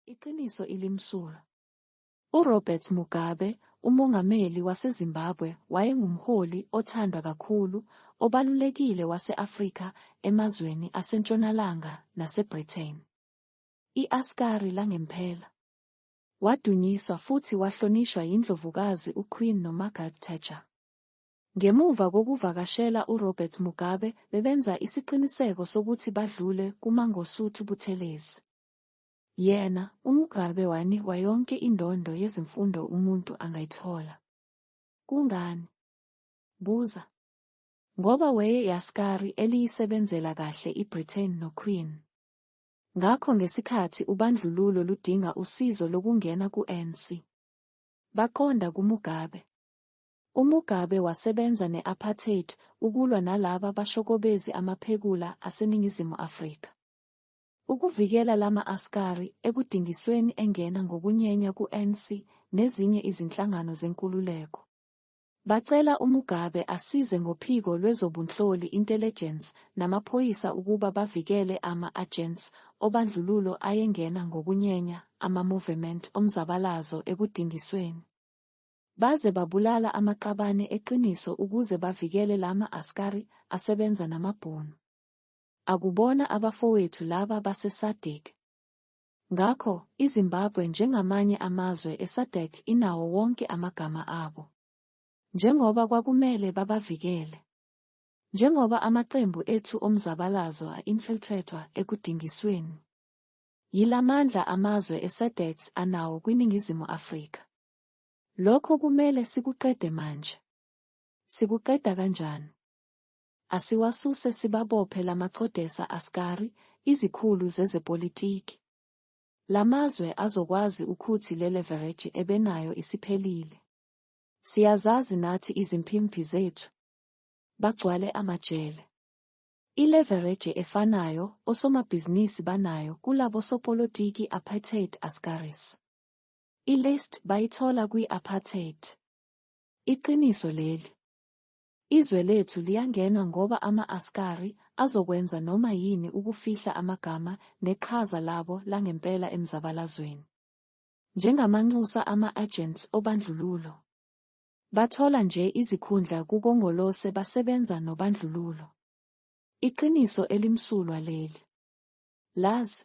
Iqiniso ilimsulwa. URobert Mugabe, umongameli waseZimbabwe, wayengumholi othandwa kakhulu, obalulekile wase-Afrika emazweni aseNtshonalanga naseBritain. I-Askari langempela. Wadunyiswa futhi wahlonishwa yiNdlovukazi uQueen noMargaret Thatcher. Ngemuva kokuvakashela uRobert Mugabe, bebenza isiqiniseko sokuthi badlule kuMangosuthu Buthelezi. Yena, uMugabe wanikwa yonke indondo yezimfundo umuntu angayithola. Kungani? Buza. Ngoba weye yaskari eliyisebenzela kahle iBritain noQueen. Ngakho ngesikhathi ubandlululo ludinga usizo lokungena ku-ANC, baqonda kuMugabe. UMugabe wasebenza ne-apartheid ukulwa nalaba bashokobezi amaphekula aseNingizimu Afrika. Ukuvikela lama askari ekudingisweni engena ngokunyenya ku ANC nezinye izinhlangano zenkululeko. Bacela uMugabe asize ngophiko lwezobunhloli, intelligence, namaphoyisa ukuba bavikele ama agents obandlululo ayengena ngokunyenya ama movement omzabalazo ekudingisweni. Baze babulala amaqabane eqiniso ukuze bavikele lama askari asebenza namabhunu. Akubona abafowethu laba baseSADC. Ngakho, iZimbabwe njengamanye amazwe eSADC inawo wonke amagama abo. Njengoba kwakumele babavikele. Njengoba amaqembu ethu omzabalazo a-infiltretwa ekudingisweni. Yila mandla amazwe eSADC anawo kwiNingizimu Afrika. Lokho kumele sikuqede manje. Sikuqeda kanjani? Asiwasuse sibabophe lamacodesa askari, izikhulu zezepolitiki. Lamazwe azokwazi ukhuthi lelevereji ebenayo isiphelile. Siyazazi nathi izimpimphi zethu. Bagcwale amajele. Ilevereji efanayo osomabhizinisi banayo kulabo sopolotiki apartheid askaris. Ilist bayithola kwi apartheid. Iqiniso leli. Izwe lethu liyangenwa ngoba ama-askari azokwenza noma yini ukufihla amagama neqhaza labo langempela emzabalazweni. Njengamanxusa ama-agents obandlululo. Bathola nje izikhundla kuKongolose basebenza nobandlululo. Iqiniso elimsulwa leli. Lazi.